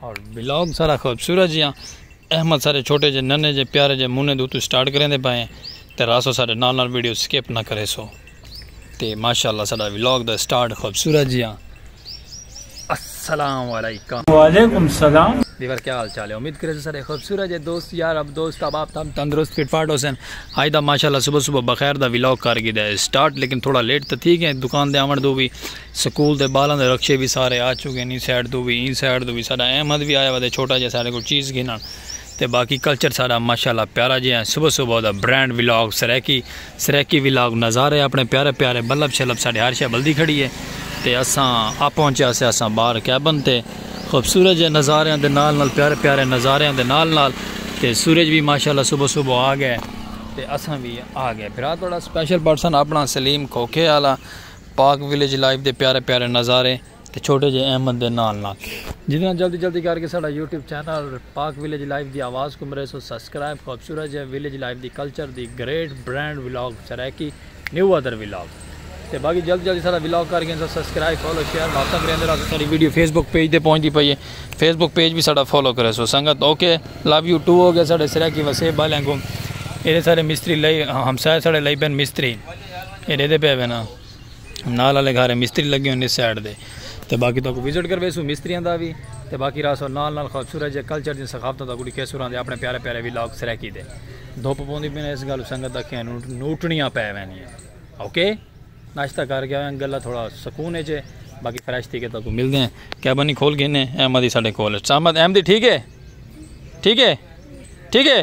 اور بلاگ سارا خوبصورت جیاں احمد سارے چھوٹے جے ننے جے پیارے جے مونے دو تو سٹارٹ کریں دے پائیں تے راسو سارے نال نال ویڈیو سکیپ نہ کرے سو تے ماشاءاللہ سارا بلاگ دا سٹارٹ خوبصورت جیاں السلام علیکم وعلیکم السلام دیور کیا حال چال ہے امید کرے سر خوبصورت ہے دوست یار اب دوست اب آپ تم تندرست فٹ فاٹ حسین آئی دا ماشاءاللہ صبح صبح بخیر دا ویلاگ کر گی دے سٹارٹ لیکن تھوڑا لیٹ تو تھی گئے دکان دے آمن دو بھی سکول دے بالاں دے رکشے وی سارے آ چکین ایں سائیڈ توں وی ایں سائیڈ توں وی ساڈا احمد وی آیا وتے چھوٹا جیہا ساڈے کول چیز گھنن تے باقی کلچر ساڈا ماشاءاللہ پیارا جیہا ہے صبح صبح دا brand vlog Saraiki Saraiki vlog نظارے اپنے پیارے پیارے بلب شلب ساڈے ہر شے بلدی کھڑی ہے تے اساں آ پہنچیا سے اساں باہر کیبن تے خوبصورت جے نظاریاں دے نال نال پیارے پیارے نظاریاں دے نال نال تے سورج وی ماشاءاللہ صبح صبح آ گئے تے اساں وی آ گئے بھرا تہاڈا سپیشل پرسن اپنا سلیم کھوکھے آلا۔ پارک ولیج لائف دے پیارے پیارے نظارے تے چھوٹے جے احمد دے نال نال۔ جتنا جلدی جلدی کر کے ساڈا YouTube channel park village life دی آواز کوں مریسو سبسکرائب خوبصورت جے ولیج لائف دی کلچر دی great brand vlog Saraiki new other vlog تے باقی جلدی جلدی ساڈا ولاگ کر گھنسو سبسکرائب فالو شیئر ماساں کریندے رہسو ساڈی ویڈیو فیس بک پیج تے پہنچدی پئی ہے فیس بک پیج وی ساڈا فالو کریسو سنگت اوکے لو یو ٹو ہو گیا ساڈے سرائیکی وسیب والیں کوں ایڈے سارے مستری لئی ہمسائے ساڈے لئی پین مستری۔ اے ڈیدے پئے وینا نال والے گھر مستری لگے ہوئے نے سائیڈ دے تے باقی تہاکوں وزٹ کرویسوں مستریاں دا وی تے باقی راسو نال نال خوبصورت جے کلچر دی ثقافتاں دا کڈی کیسوراں دے اپنے پیارے پیارے ولاگ سرائیکی دے دھوپ پوندی پئی اس گل سنگت دا کھیاں نوٹنیاں پئے وینیاں اوکے ناشتہ کر گیا ہویاں گلا تھوڑا سکون اچ باقی فریش تھی کے تاکوں ملدے ہیں کیبن ہی کھول گھنے احمد ہی ساڈے کول اچ احمد احمد ٹھیک ہے ٹھیک ہے ٹھیک ہے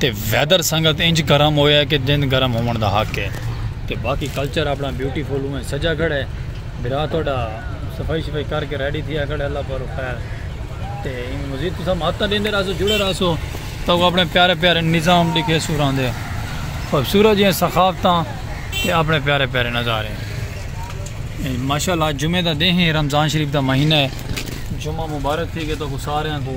تے ویدر سنگت انج گرم ہویا کہ جنج گرم ہوون دا حق ہے تے باقی کلچر اپنا بیوٹی فل اونج سجا کھڑا ہے بھرا تہاڈا صفائی شفائی کر کے ریڈی تھیا کھڑا ہے اللہ پر خیر تے ایویں مزید تساں ماتاں ڈیندے رہسو جڑے رہسو تو اپنے پیارے پیارے نظام ڈکھے سوراں دے خوبصورت جیاں ثقافتاں تے اپنے پیارے پیارے نظارے ماشاءاللہ جمعہ دا دن ہے رمضان شریف دا مہینہ ہے جمعہ مبارک تھی کہ تو سارے کو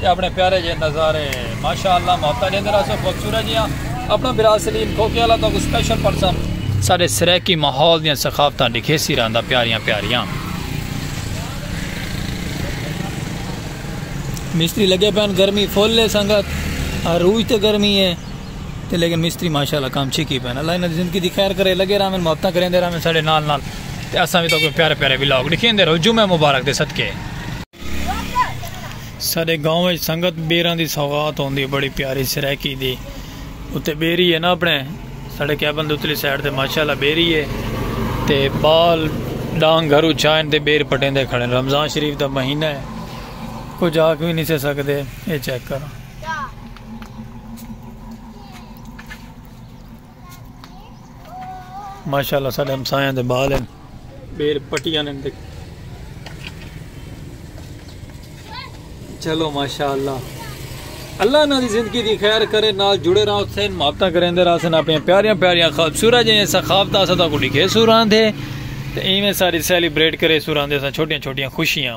تے اپنے پیارے جے نظارے ماشاءاللہ محبتاں ڈیندے رہسو خوبصورت جیاں اپنا برا سلیم کھوکھے والا تہاکوں سپیشل پڑساں۔ ساڈے سرائیکی ماحول دیاں ثقافتاں ڈکھیسی رہندا پیاریاں پیاریاں۔ مستری لگے پئن گرمی فل ہے سنگت عروج تے گرمی ہے تے لیکن مستری ماشاءاللہ کام چھکی پئن اللہ انہاں دی زندگی دی خیر کرے لگے رہون محبتاں کریندے رہون ساڈے نال نال تے اساں وی تہاکوں پیارے پیارے ولاگ ڈکھیندے رہوں جمعہ مبارک دے صدقے۔ ساڈے گاؤں وچ سنگت بیراں دی سوغات ہوندی ہے بڑی پیاری سرائیکی دی اتے بیری ہے نا اپنے ساڈے کیبن دے اتلی سائیڈ تے ماشاءاللہ بیری ہے تے بال ڈانگ گھرو چائن تے بیر پٹیندے کھڑے رمضان شریف دا مہینہ ہے کچھ آکھ وی نہیں سے سکدے اے چیک کرو ماشاءاللہ ساڈے ہمسایاں دے بال ہن بیل پٹیاں نے دیکھ چلو ماشاءاللہ اللہ انہاں دی زندگی دی خیر کرے نال جڑے رہا حسین محبتاں کریندے رہا سن اپنی پیاریاں پیاریاں خوبصورت جیاں ثقافتاں اساں تاں کو لکھے سوراں دے تے ایویں ساری سیلیبریٹ کرے سوراں دے اساں چھوٹیاں چھوٹیاں خوشیاں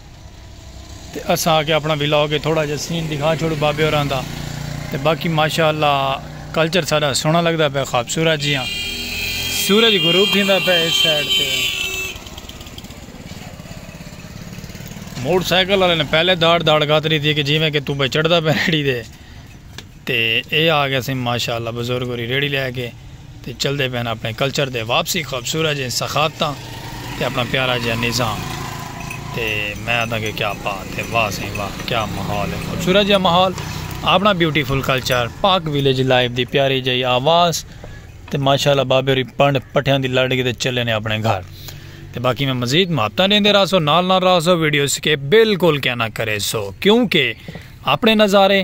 تے اساں آکھیا اپنا ولاگ اچ تھوڑا جیہا سین ڈکھا چھوڑوں بابے ہوراں دا تے باقی ماشاء اللہ کلچر ساڈا سوہنا لگدا پئے خوبصورت جیہاں سورج غروب تھیندا پئے اس سائیڈ تے موٹر سائیکل والے نے پہلے داڑ داڑ گھت ڈیتی کہ جیویں کہ توں پئے چڑھدا پئے ریڑھی دے تے اے آ گئے سیں ماشاء اللہ بزرگ ہوری ریڑھی لے کے تے چلدے پئے ہن اپنے کلچر دے واپسی خوبصورت جئیں ثقافتاں تے اپنا پیارا جیہا نظام تے میں آدھاں کہ کیا بات ہے واہ سئیں واہ کیا ماحول ہے خوبصورت جیہا ماحول اپنا beautiful culture Pak village life دی پیاری جئی آواز تے ماشاء اللہ بابے ہوری پنڈ پٹھیاں دی لڑ کے تے چلے نے اپنے گھر تے باقی میں مزید محبتاں ڈیندے رہا سو نال نال رہا سو ویڈیو سکیپ بالکل کیا نہ کرے سو کیونکہ اپنے نظارے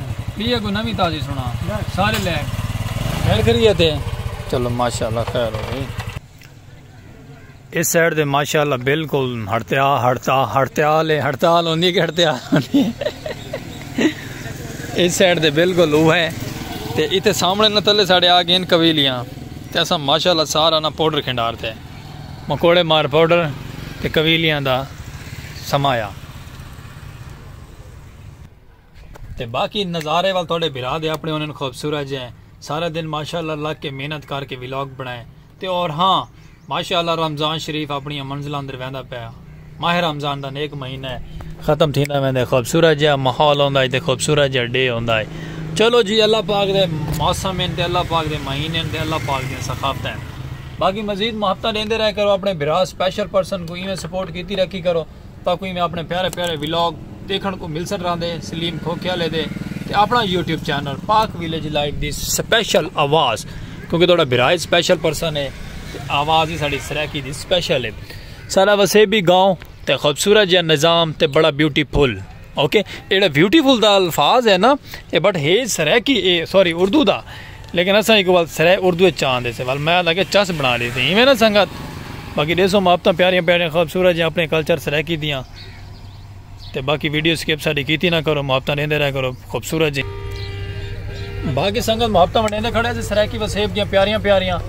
ٻی اگوں نویں تازی سنا سارے لائک خیر کریے تے چلو ماشاءاللہ خیر ہو گئی اس سائیڈ دے ماشاءاللہ بالکل ہڑتیا ہڑتا ہڑتال ہے ہڑتال ہوندی کہ ہڑتیا اس سائیڈ دے بالکل وہ ہے تے ایتھے سامنے نہ تلے ساڑے آ گئے قبیلیاں تے اسا ماشاءاللہ سارا نہ پاؤڈر کھنڈار تے مکوڑے مار پاؤڈر تے قبیلیاں دا سمایا تے باقی نظارے ول تہاڈے بھرا دے اپنے ہونن خوبصورت جے سارا دن ماشاءاللہ لگ کے محنت کر کے ولاگ بنائے تے اور ہاں ماشاءاللہ رمضان شریف اپنیاں منزلاں اندر ویندا پیا ماہ رمضان دا نیک مہینہ ہے ختم تھیندا ویندے خوبصورت جے ماحول ہوندا ہے تے خوبصورت جے ڈے ہوندا ہے چلو جی اللہ پاک دے موسم ہیں تے اللہ پاک دے مہینے ہیں تے اللہ پاک دے ثقافت ہیں باقی مزید محبتاں دیندے رہے کرو اپنے بھرا سپیشل پرسن کو ایویں سپورٹ کیتی رکھی کرو تاکوں ایویں اپنے پیارے پیارے ولاگ دیکھن کو ملسن راندے سلیم کھوکھیا لے دے تے اپنا YouTube channel Pak village live دی سپیشل آواز کیونکہ توڑا برائے سپیشل پرسن ہے تے آواز ہی ساڑی سریکی دی سپیشل ہے سارا وسے بھی گاؤں تے خوبصورت جہاں نظام تے بڑا بیوٹی پھول اوکے ایڑا بیوٹی پھول دا الفاظ ہے نا اے بٹ ہے سریکی اے سوری اردو دا لیکن اساں ایکوں ول سرائے اردو اچ چاہندے سے ول میں آدھا کہ چس بنا ڈیسی اینویں نہ سنگت باقی ڈیسو محبتاں پیاریاں پیاریاں خوبصورت جیاں اپنے کلچر سرائیکی دیاں تے باقی ویڈیو سکپ ساڈی کیتی نہ کرو محبتاں ڈیندے رہ کرو خوبصورت جیاں باقی سنگت محبتاں ونڈیندے کھڑے سے سرائیکی وسیب دیاں پیاریاں پیاریاں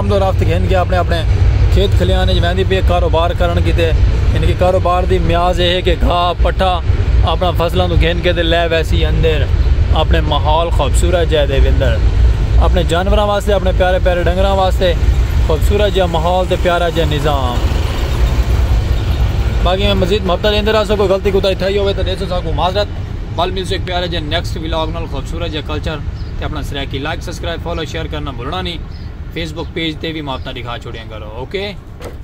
آمد و رفت گھن کے اپنے اپنے کھیت کھلیان اچ ویندی پئی اے کاروبار کرن کیتے یعنی کہ کاروبار دی میاز اے ہے کہ گھا پٹھا اپنا فصلاں توں گھن کے تے لے ویسی اندر اپنے ماحول خوبصورت جے دے وندر اپنے جانوراں واسطے اپنے پیارے پیارے ڈنگراں واسطے خوبصورت جے ماحول تے پیارا جے نظام باقی میں مزید محبت دیندے رہا سو کوئی غلطی کوتا تھئی ہوے تے دیسو ساکو معذرت بل ملسو ایک پیارے جے نیکسٹ ولاگ نال خوبصورت جے کلچر تے اپنا Saraiki like subscribe follow share کرنا بھولنا نہیں فیس بک پیج تے بھی ماپتا دکھا چھوڑیاں کرو اوکے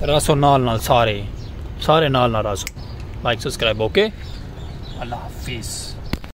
راسو نال نال سارے سارے نال نال راسو لائک سبسکرائب اوکے اللہ حافظ